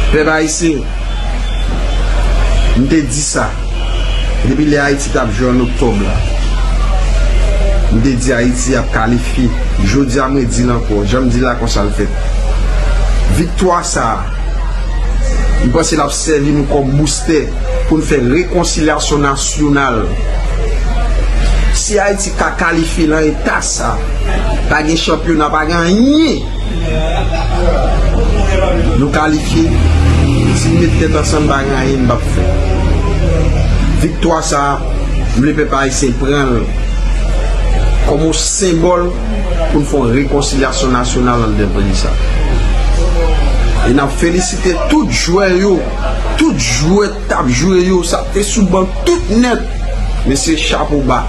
Pèp Ayisyen, m te di sa, depi lè Ayiti t ap jwe an oktòb la, m te di Ayiti ap kalifye. Jodi a m re di l ankò, jan m di l la konsa l fèt. Viktwa sa a, m panse l ap sèvi nou kòm boustè pou n fè rekonsilyasyon nasyonal. Si Ayiti ka kalifye lan eta sa, pa gen chanpyona, pa gen anyen! Nou kalifye, si n met tèt ansanm bagay anyen pa p fèt. Viktwa sa a, m vle pèp ayisyen pran l kòm yon senbòl pou n fè yon rekonsilyasyon nasyonal anndan peyi sa a. E n ap felisite tout jwè yo, tout jwè k t ap jwe yo, sa k te sou ban, tout nèt. Mesye chapo ba,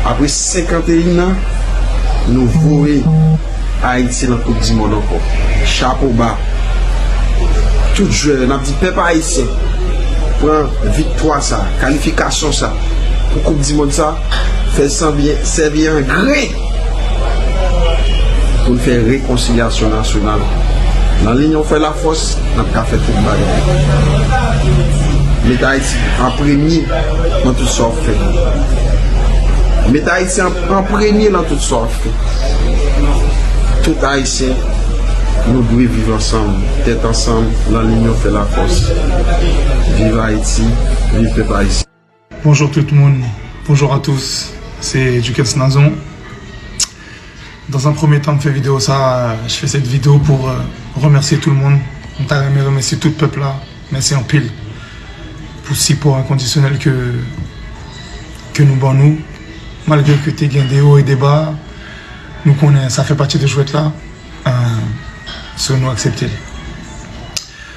apre 51 an nou voye Ayiti nan koup di mond ankò, chapo ba tout jwè yo, nap di pèp ayisyen pran viktwa sa, kalifikasyon sa pou koup di mond sa, fèl sèvi an gren. Pou n fè rekonsilyasyon nasyonal. Nan linyon fè lafòs, n ap ka fè tout bagay. Met Ayiti an premye nan tout sa w ap fè. Met Ayiti an premye nan tout sa w ap fè. Tout Ayisyen, nou dwe viv ansanm, tèt ansanm, nan linyon fè lafòs. Viv Ayiti, viv pèp Ayisyen! Bonjour tout moun Bonjour à tous se Duckens Nazon Dans un premier temps m fè video sa je fais cette vidéo pour remercier tout le monde m ta renmen remèsye tout pèp la mèsi anpil pou sipò enkondisyonèl ke ke nou ban nou malgre ke te gen de o e de ba nou konnen sa fè pati de jwèt la so nou aksepte l.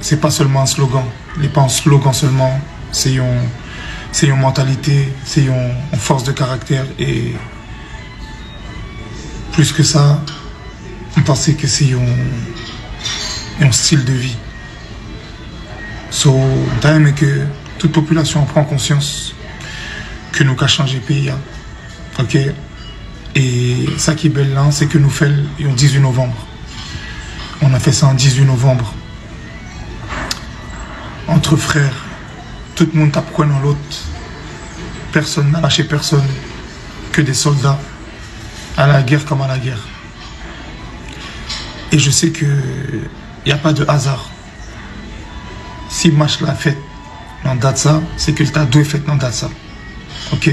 Se pa sèlman yon slogan, li pa yon slogan sèlman, se yon se yon mantalite, se yon fòs de karaktè e plis ke sa m panse ke se yon yon stil de vi. So, m ta renmen ke tout popilasyon an pran konsyans ke nou ka chanje peyi a, ok, e sa ki bèl la se ke nou fè l yon 18 novanm. On a fè sa an 18 novanb. Antre frè, tout moun tap kwen nan lòt. Pèsòn nan lache pèsòn ke de sòlda. A la gèr kòm a la gèr. E je se ke y a pa de azar. Si match la fèt nan dat sa, se ke l ta dwe fèt nan dat sa. Ok?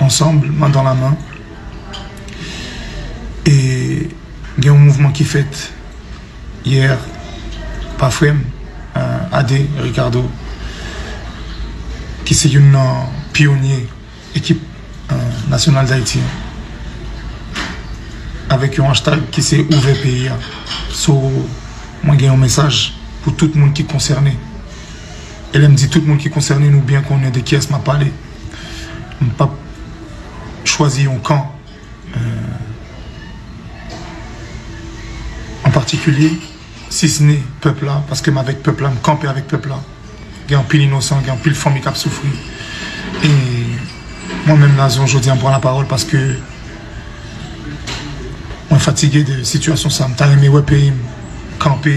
ansanm, man dan la man. E gen yon mouvman ki fèt yè pa frè m, Ade Ricardo, ki se youn nan pyonye ekip nasyonal Dayiti an, avèk yon hashtag ki se ouvè peyi a. So, mwen gen yon mesaj pou tout moun ki konsène. E lè m di tout moun ki konsène nou byen konnen de kiyès m ap pale. M p ap chwazi yon kan an patikilye si s ne pèp la paske m avèk pèp la, m kanpe avèk pèp la. Gen anpil inosan, gen anpil fanmi k ap soufri. E mwen menm Nazon jodi a m pran lapawòl paske mwen fatige de sitiyasyon sa. M ta renmen wè peyi m kanpe.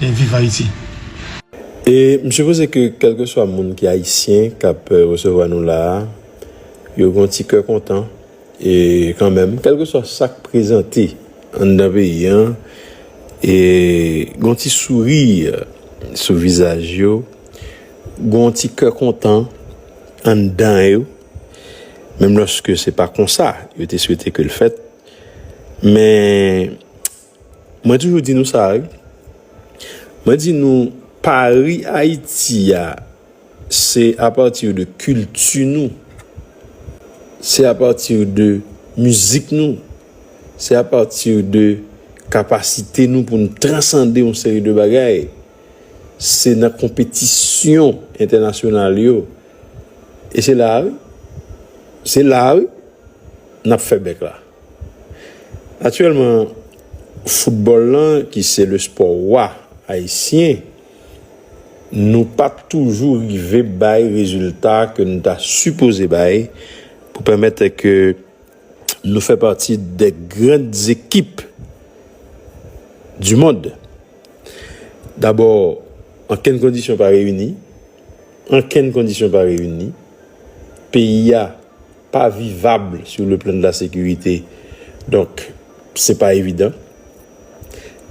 Viv Haiti. E m sipoze ke kèlkeswa moun ki ayisyen k ap resevwa nou la a, yo gen yon ti kè kontan e kanmenm kèlkeswa sa k prezante anndan peyi an e gen yon ti souri sou vizaj yo, gen yon ti kè kontan anndan yo menm lòske se pa konsa yo te swete ke l fèt men Mwen toujou di nou sa wi. Mwen di nou pari Ayiti a se a partir de kilti nou. Se a partir de mizik nou. Se a partir de kapasite nou pou nou transande yon seri de bagay. Se nan konpetisyon entènasyonal yo. E se la wi. Se la wi. Nap fè bèk la. Aktyèlman, foutbòl lan ki se le spò wa ayisyen, nou pa toujou rive bay rezilta ke nou ta sipoze bay pou pèmèt ke nou fè pati de gran ekip di mond. Dabò, ankenn kondisyon pa reyini, ankenn kondisyon pa reyini, peyi a pa vivab sou le plan de la sekirite donk se pa evidan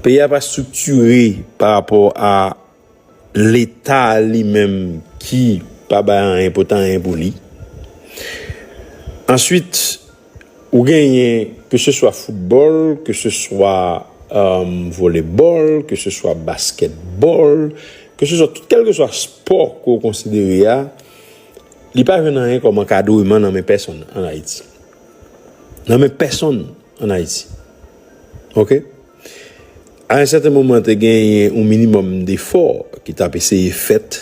peyi a pa striktire pa rapò a leta li menm ki pa bay anyen pot anyen pou li answit ou genyen ke se swa foutbòl ke se swa volebòl ke se swa baskètbòl ke se swa tout kèlke swa spò ke w konsidere a. Li pa jwenn anyen kòm ankadreman nan men pèsonn an Ayiti. Nan men pèsonn an Ayiti. Ok? A yon sèten moman te genyen yon minimòm defò ki tap eseye fèt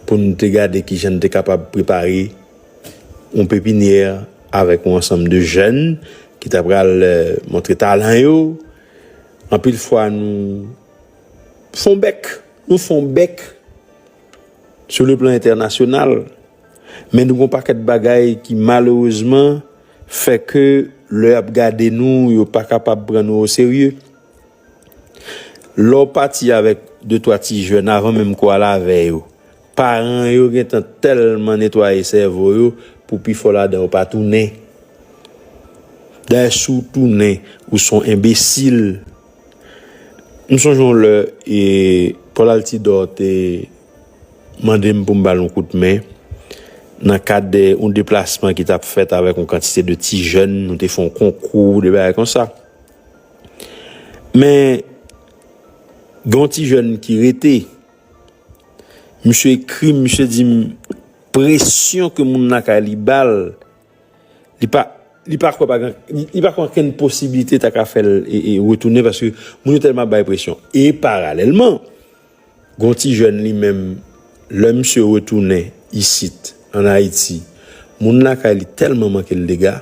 pou nou te gade ki jan nou te kapab prepare yon pepinyè avèk yon ansanm de jèn ki ta pral montre talan yo. Anpil fwa nou fon bèk. Nou fon bèk. Sou le plan entènasyonal, men nou gen yon pakèt bagay ki malerezman fè ke lè y ap gade nou, yo pa kapab pran nou oserye. Lè w pati avèk de twa ti jèn avan menm ke w al avè yo, paran yo gen tan tèlman netwaye sèvo yo pou pifò ladan yo pa tounen. Dayè si w tounen, ou se yon enbesil. M sonje yon lè e Paul Altidor te mande m pou m ba l yon kout men nan kad yon deplasman ki t ap fèt avèk yon kantite de ti jèn, nou te fè yon konkou, de bagay konsa. Men, gen yon ti jèn ki rete, misye ekri m, misye di m, presyon ke moun lakay li ba l, Li pa li pa kwè pa gen li pa kwè ankenn posiblite ta ka fè l retounen paske moun yo tèlman ap bay presyon. E paralèlman, gon ti jèn li menm lè misye retounen isit an Ayiti, moun lakay li tèlman manke l dega,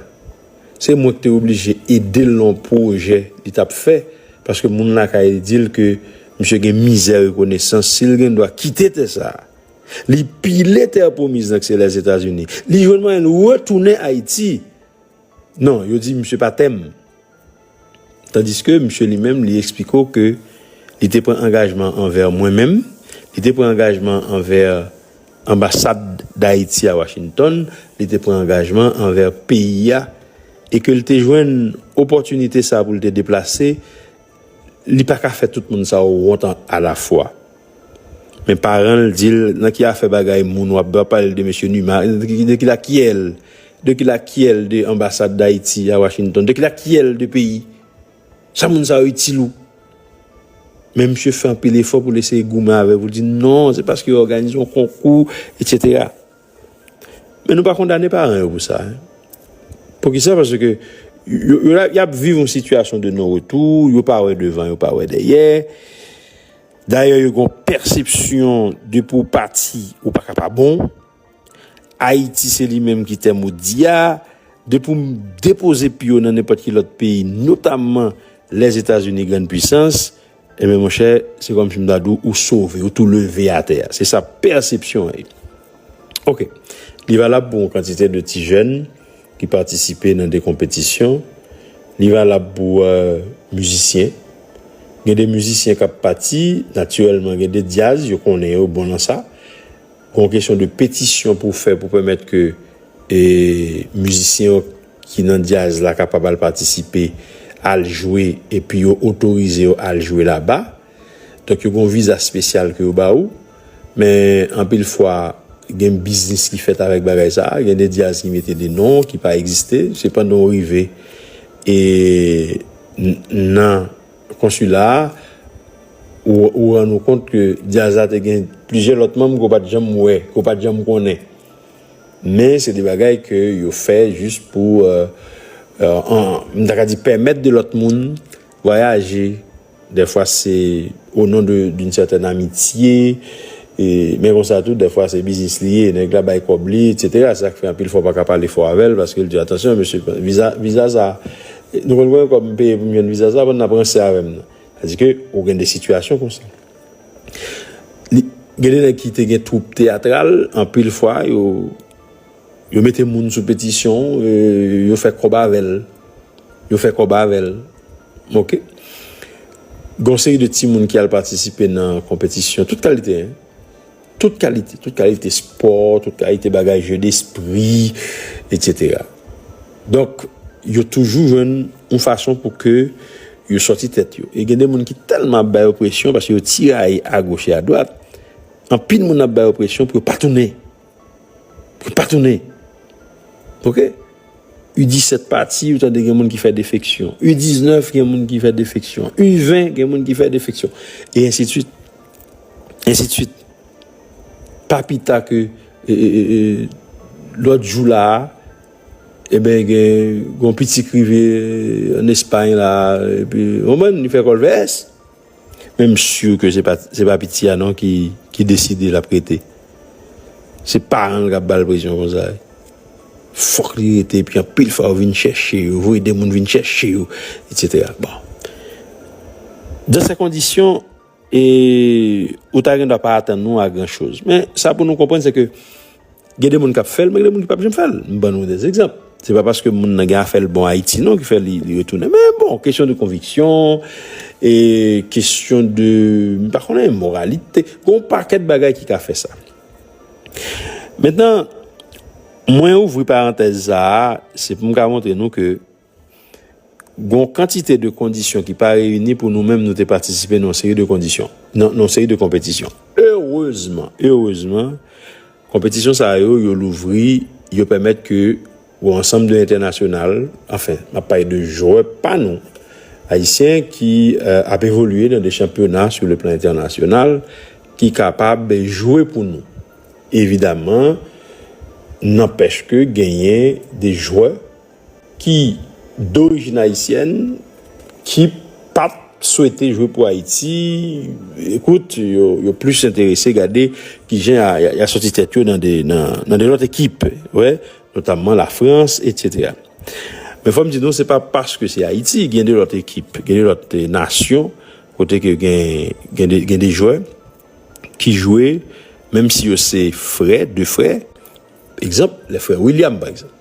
se mwen ki te oblije ede l nan yon pwojè li t ap fè paske moun lakay li di l ke misye gen mizè rekonesans si l gen dwa kite tè sa a. Li pile terre promise nan kse les Etats Unis. Li jwenn mwayen l retounen Ayiti. Non, yo di misye pa tèm. Tandiske misye li menm li eksplike w ke li te pran angajman anvè mwen menm, li te pran angajman anvè anbasad Dayiti a Washington, li te pran angajman anvè peyi a e ke l te jwenn opòtinite sa pou l te deplase Li pa ka fè tout moun sa yo wont alafwa. Men paran l di l, nan ki afè bagay moun w ap do ap pale de mesye Numa? De ki lakyè l? De ki lakyè l de anbasad Dayiti a Washington? De ki lakyè l de peyi? Sa moun sa yo itil ou? Men misye fè anpil efò pou l eseye goumen avè l pou l di non, se paske yo òganize yon konkou, etsetera. Men nou pa kondane paran yo pou sa. Poukisa? Paske y ap viv yon sitiyasyon de non retou, yo pa wè devan, yo pa wè dèyè. Dayè yo gon pèsepsyon de pou pati ou pa ka pa bon. Ayiti se li menm ki tè modi a. De pou m depoze pye nan nenpòt ki lòt peyi, notamman Lèzetazini grann pwisans, Ebyen monchè, se kòm si m ta di w, ou sove, ou tou leve atè a. Se sa pèsepsyon an ye. Ok. Li valab pou yon kantite de ti jèn ki patisipe nan de konpetisyon. Li valab pou mizisyen. Gen de mizisyen k ap pati, natirèlman gen de dyaz, yo konnen yo bon nan sa. Gon kesyon de petisyon pou w fè pou pèmèt ke mizisyen yo ki nan dyaz la kapab al patisipe, al jwe epi yo otorize yo al jwe laba. Donk yo gen yon viza espesyal ke yo ba ou. Men anpil fwa gen biznis ki fèt avèk bagay sa a. Gen de dyaz ki mete de non ki pa egziste. Se pandan ou rive e nan konsila a ou rann ou kont ke dyaz la te gen plizyè lòt manm ke w pa t janm wè, ke w pa t janm konnen. Men se de bagay ke yo fè jis pou, m ta ka di, pèmèt de lòt moun vwayaje. Dèfwa se o non d'une certaine amitié, men konsa tou dèfwa se biznis li ye, nèg la bay kòb li, etc. Se sa k fè anpil fwa w pa ka pale fò avè l, paske l di, atansyon mesye, viza sa, nou konn konbyen kòb m peye pou m jwenn viza sa, bann nan p ranse avè m nan. Sa di ke ou gen de sitiyasyon konsa. Gen de nèg ki te gen twoup teyatral, anpil fwa yo mete moun sou petisyon, yo fè kòb avè l. Yo fè kòb avè l. Ok. Gon seri de timoun ki al patisipe nan konpetisyon, tout kalite. Tout kalite, tout kalite spò, tout kalite bagay jeu despri, etc. Donk, yo toujou jwenn yon fason pou ke yo sòti tèt yo. E gen de moun ki tèlman ap bay yo presyon, paske yo tiraye agoch e adwat, anpil moun ap bay yo presyon pou yo pa tounen. Pou yo pa tounen. Ok? U 17 pati, ou tande gen moun ki fè defeksyon. U 19, gen moun ki fè defeksyon. U 20, gen moun ki fè defeksyon. E ensi de swit. Ensidswit. Pa pita ke lòt jou la a, eben gen yon piti ki rive an Espay la a, epi oman li fè kò l vès. Men m si ke se pa piti a non ki deside l ap rete. Se paran l k ap ba l presyon konsa. Fòk li rete epi anpil fwa yo vin chèche yo, voye de moun vin chèche yo, etsetera. Bon. Dan se kondisyon. E ou ta gen dwa pa atann nou a gran choz. Men, sa pou nou konprann se ke gen de moun k ap fè l, men gen de moun ki p ap janm fè l. M ban nou de egzanp. Se pa paske moun nan gen afè l bon Ayiti non ki fè li retounen. Men bon, kesyon de konviksyon, e kesyon de, m pa konnen, moralite. Gen yon pakèt bagay ki ka fè sa. Mentnan, mwen ouvri parantèz sa a, se pou m ka montre nou ke Gon kantite de kondisyon ki pa reyini pou nou menm nou te patisipe nan yon seri de kondisyon, nan yon seri de konpetisyon. Erezman, erezman, konpetisyon sa yo, yo louvri, yo pèmèt ke yon ansanm de entènasyonal, anfen, m ap pale de jwè pa nou, Ayisyen ki ap evolye nan de chanpyona sou le plan entènasyonal, ki kapab jwe pou nou. Evidaman, nanpèch ke genyen de jwè. ki dorijin ayisyèn, ki pa t swete jwe pou Ayiti, ekout, yo plis enterese gade ki jan y a sòti tèt yo nan de lòt ekip, wè, notamman Lafrans, etsetera. Men fò m di nou, se pa paske se Ayiti, gen de lòt ekip, gen de lòt nasyon, kote ke gen de jwè ki jwe, menm si yo se frè, de frè, Egzanp, lè frè William pa egzanp.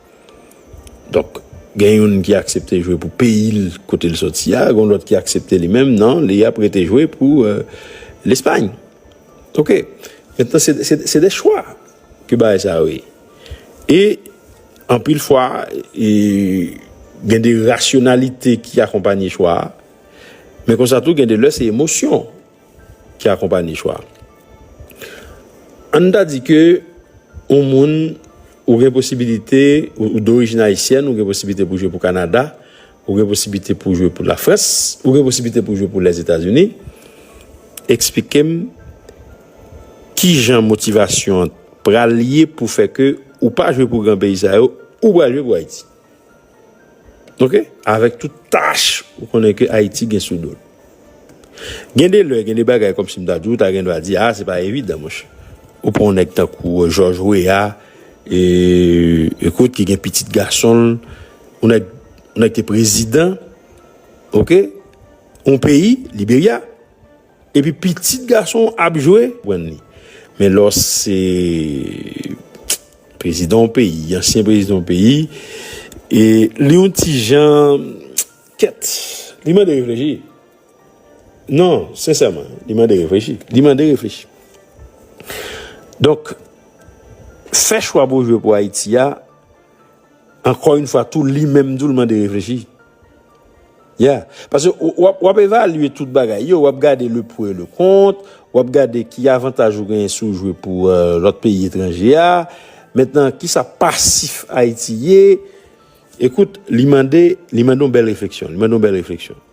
Donk, gen youn ki aksepte jwe pou peyi l kote l soti a, gen yon lòt ki aksepte li menm, non, li ap rete jwe pou Lespay. Ok. Mentnan, se de chwa ke bagay sa yo ye. E, anpil fwa, gen de rasyonalite ki akonpanye chwa a, men konsa tou gen de lè se emosyon. ki akonpanye chwa a. An n ta di ke yon moun, ou gen posibilite, ou dorijin ayisyèn, ou gen posibilite pou w jwe pou Kanada, ou gen posibilite pou w jwe pou Lafrans, ou gen posibilite pou w jwe pou Lèzetazini, eksplike m ki jan motivasyon an pral ye pou fè ke ou pa jwe pou gran peyi sa yo, ou pral jwe pou Ayiti? Ok avèk tout tach ou konnen ke Ayiti gen sou dol. Gen de lè gen de bagay kòmsi m ta di ou ta gen dwa di a se pa evidan monchè. Ou pran yon nèg tankou Jòj Weya e kot ki gen pitit gason l yon nèg yon nèg te prezidan ok yon peyi Liberya. Epi pitit gason w ap jwe. Prann li. Men lè w se prezidan yon peyi, ansyen prezidan yon peyi, e li yon ti jan kèt. Li mande reflechi. Non, sensèman, li mande reflechi. Li mande reflechi. Donk, fè chwa pou w jwe pou Ayiti a. Ankò yn fwa tou li menm tou l mande reflechi. Yeah. Paske w ap evalye tout bagay yo, w ap gade le pour et le contre, w ap gade ki avantaj ou genyen si w jwe pou lòt peyi etranje a. Mentnan kisa pasif Ayiti ye? Ekout, li mande yon bèl refleksyon, li mande yon bèl refleksyon.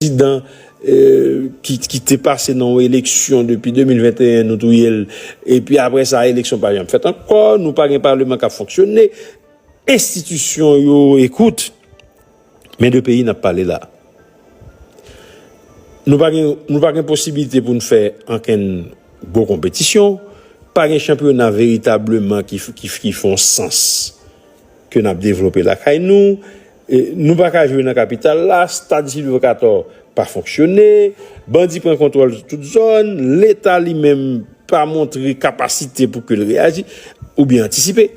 prezidan ki te pase nan yon eleksyon depi 2021 nou touye l epi apre sa eleksyon pa janm fèt ankò nou pa gen paleman k ap fonksyone enstitisyon yo ekout men de peyi n ap pale la nou pa gen posibilite pou n fè ankenn gwo konpetisyon pa gen chanpyona veritableman ki fon sans ke n ap devlope lakay nou Nou pa ka jwe nan kapital la, stad Sylvio Cator pa fonksyone, bandi pran kontwòl tout zòn, leta li menm pa montre kapasite pou ke l reyaji oubyen antisipe.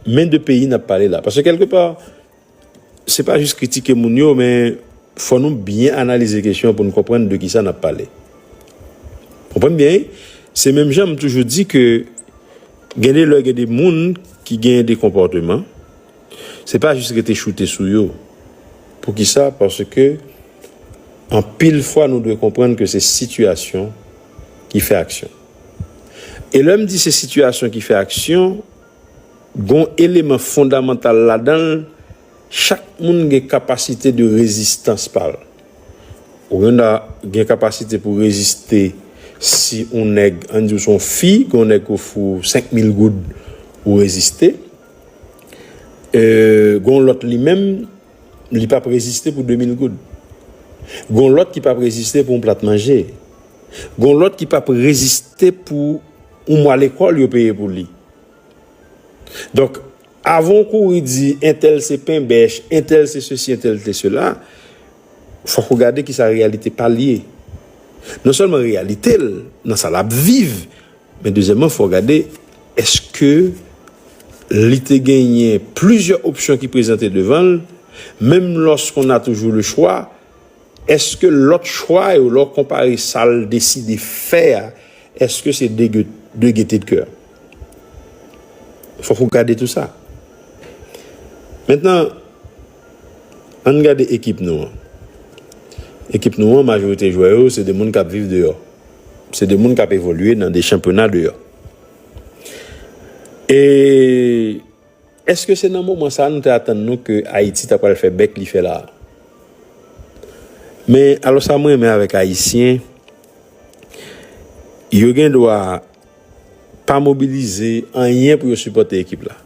Men de peyi n ap pale la. Paske kèlke pa, se pa jis kritike moun yo men fò nou byen analize kesyon pou nou konprann de kisa n ap pale. Konprann byen wi. Se menm jan m toujou di ke gen de lè gen de moun ki gen de konpòteman, Se pa jis rete choute sou yo. Poukisa? Paske anpil fwa nou dwe konprann ke se sitiyasyon ki fè aksyon. E lè m di se sitiyasyon ki fè aksyon, gon eleman fondamantal ladan l, chak moun gen kapasite de rezistans pa l. Ourenda gen kapasite pou reziste si on nèg, an n di w se on fi, gen on nèg ki ofri w 5 mil goud, ou reziste. Gon lòt li menm li pap reziste pou 2000 goud. Gon lòt ki pap reziste pou yon plat manje. Gon lòt ki pap reziste pou yon mwa lekòl yo peye pou li. Donk, avan w kouri di entèl se penbèch, entèl se sesi, entèl se sela, fòk ou gade kisa reyalite pa l ye. Non sèlman reyalite l, nan sa l ap viv, Men dezyèmman fò w gade èske li te genyen plizyè opsyon ki prezante devan l, menm lòske on a toujou le chwa, èske lòt chwa yo lè w konpare sa l deside fè a èske se de de gete de kè? Fòk ou gade tou sa. Mentnan. Ann gade ekip nou an. Ekip nou an majorite jwè yo se de moun kap viv deyò. Se de moun kap evolye nan de chanpyona deyò. E eske se nan moman sa nou te atann nou ke Ayiti ta pral fè bèk li fè la a? Men alò sa mwen renmen avèk Ayisyen, yo gen dwa. pa mobilize anyen pou yo sipòte ekip la.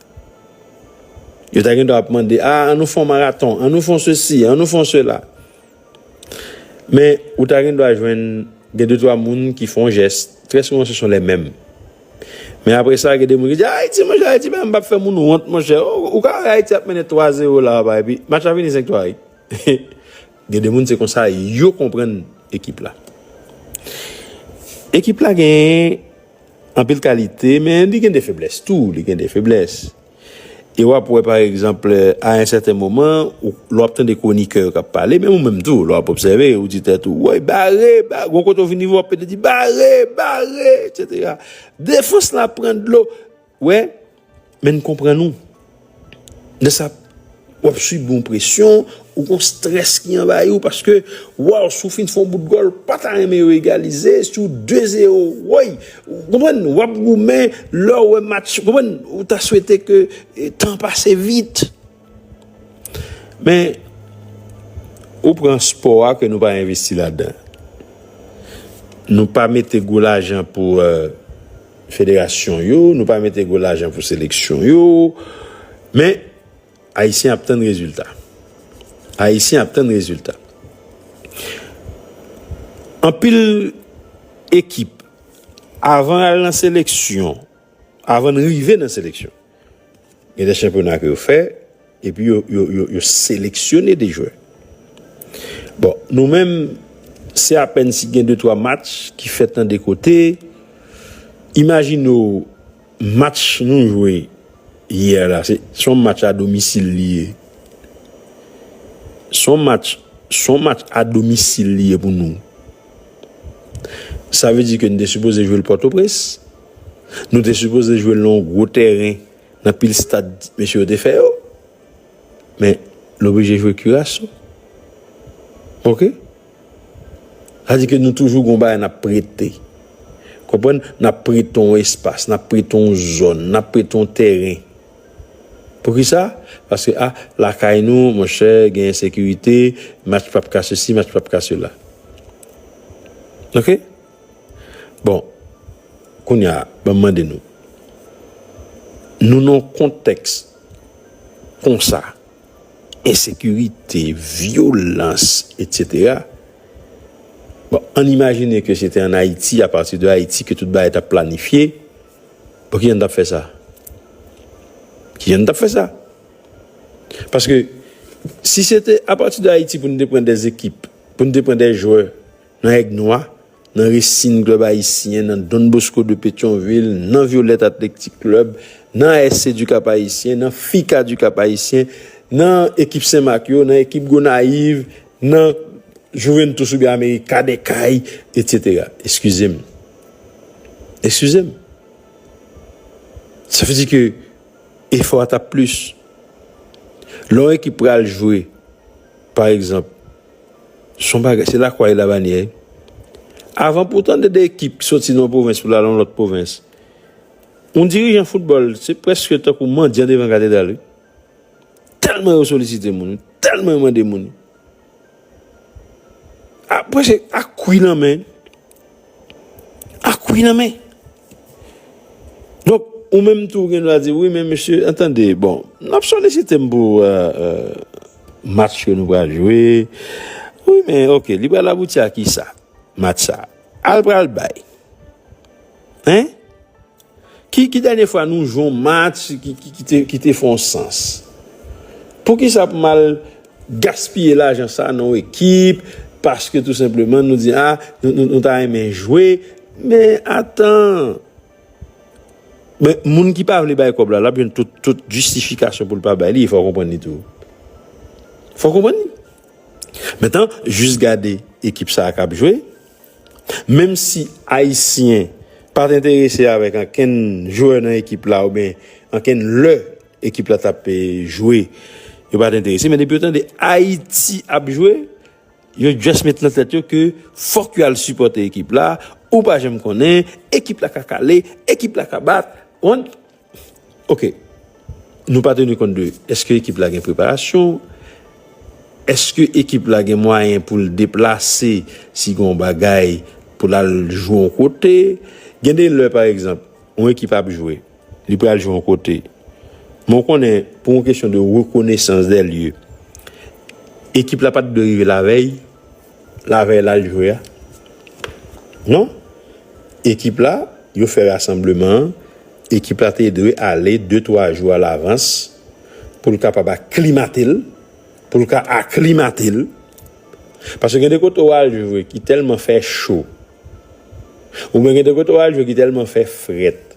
Yo ta gen dwa ap mande, a, an nou fè yon maraton, an nou fè yon sesi, an nou fè yon sela. Men, ou ta gen dwa jwenn gen de twa moun ki fè yon jès, trè souvan se son lè menm. Men apre sa, gen de moun ki di, Ayiti, monchè, Ayiti pa menm pa fè moun wont, monchè. Ou ka wè Ayiti ap mennen 3 zewo la a, epi match la fini 5-3. Gen de moun se konsa yo konprann ekip la. Ekip la gen anpil kalite men li gen de feblès tou, li gen de feblès. E wap wè pa egzanp a en sèten moman lè wap tande kwonikè yo kap pale menm ou menm tou lè wap obsève ou di tèt ou woy bare, bare, gon kote ou vin rive wap pede di bare, bare etc. Defans la pran dlo. Wè, men n konprann ou. Nan sa, w ap sibi yon presyon, ou gen yon strès ki anvayi ou paske, waw, si w fin fè yon bout gòl, ou pa ta renmen yo egalize, si w 2 zero, woy! Ou konprann? W ap goumen, lè w wè match, ou konprann? Ou ta swete ke tan pase vit. Men, ou pran spò a ke nou pa envesti ladan. Nou pa mete gwo lajan pou euh, federasyon yo, nou pa mete gwo lajan pou seleksyon yo, men, Ayisyen ap tann rezilta. Ayisyen ap tann rezilta. Anpil ekip, avan al nan seleksyon, Avan n rive nan seleksyon, gen de chanpyona ke yo fè, epi yo seleksyone de jwè. Bon, nou menm, se apèn si gen de twa match ki fèt nan de kote, imajine w, match nou jwe yè la, se yon match a domisil li ye, se yon match, se yon match a domisil li ye pou nou, sa ve di ke n te sipoze jwe l Pòtoprens, Nou te sipoze jwe l nan yon gwo tèren, nan pil stad mesye yo te fè yo. Men, l oblije jwe Curaçao. Ok? Sa di ke nou toujou gen yon bagay n ap prete. Konprann? N ap prete yon espas, n ap prete yon zòn, n ap prete yon tèren. Poukisa? Paske, a, lakay nou, monchè, gen ensekirite, match pap ka sesi, match pap ka sela. Ok? Bon, kounye a, ban m mande nou, nou nan yon kontèks konsa, ensekirite, vyolans, etsetera, bon, an n imajine ke se te an Ayiti, apati de Ayiti ke tout bagay t ap planifye, bon, ki jan n t ap fè sa? Ki jan n t ap fè sa? Paske, si se te apati de Ayiti pou nou te pran de ekip, pou nou te pran de jwè nan Èg Nwa, nan Resin Klèb Ayisyen, nan Don Bosco de Petyonvil, nan Vyolèt Atlektik Klèb, nan ASC du Cap Haïtien, nan FICA du Cap Haïtien, nan ekip Sen Mak yo, nan ekip Gonayiv, nan Juventus oubyen Amerika dè Kay, etsetera. Eskize m. Eskize m. Sa vle di ke efò a t ap plis. Lè yon ekip pral jwe, pa egzanp. Son bagay, se lakwa e labanyè wi. Avan pou tande 2 ekip ki soti nan yon pwovens pou l al nan yon lòt pwovens, yon dirijan foutbòl se prèske tankou mandyan devan katedral wi. Tèlman yo solisite moun, tèlman yo mande moun. A prèske ak kwi nan men. Ak wi nan men. Donk, ou menm tou gen dwa di, wi men mesye, tande, bon, n ap solisite m pou match ke nou pral jwe, wi men, ok, li pral abouti a kisa, match sa a? Al pral bay. Hein? Ki ki dènye fwa nou jwe yon match ki te fè yon sans? Poukisa pou m al gaspiye lajan sa nan yon ekip paske tou senpleman nou di a nou ta renmen jwe men atan men moun ki pa vle bay kòb la l ap jwenn tout jistifikasyon pou l pa bay li e fò w konprann li tou fò w konprann li mentan jis gade ekip sa a k ap jwe Menm si Ayisyen pa t enterese avèk ankenn jwè nan ekip la oubyen ankenn lè ekip la t ap jwe yo pa t enterese men depi yo tande Ayiti ap jwe yo just met nan tèt yo ke fòk yo al sipòte ekip la ou pa janm konnen ekip la ka kale ekip la ka bat ou konn. Ok Nou pa teni kont de eske ekip la gen preparasyon, eske ekip la gen mwayen pou l deplase si gen yon bagay pou l al jwe yon kote. Gen de lè pa egzanp, yon ekip ap jwe, li pral jwe yon kote. Men w konnen pou yon kesyon de rekonesans dè lye, ekip la pa t dwe rive lavèy Lavèy lal jwe a? Non. Ekip la, yo fè rasanbleman an, ekip la te dwe ale de twa jou alavans pou l kapab aklimate l, pou l ka aklimate l. Paske gen de kote ou al jwe ki tèlman fè cho, oubyen gen de kote ou al jwe ki tèlman fè frèt.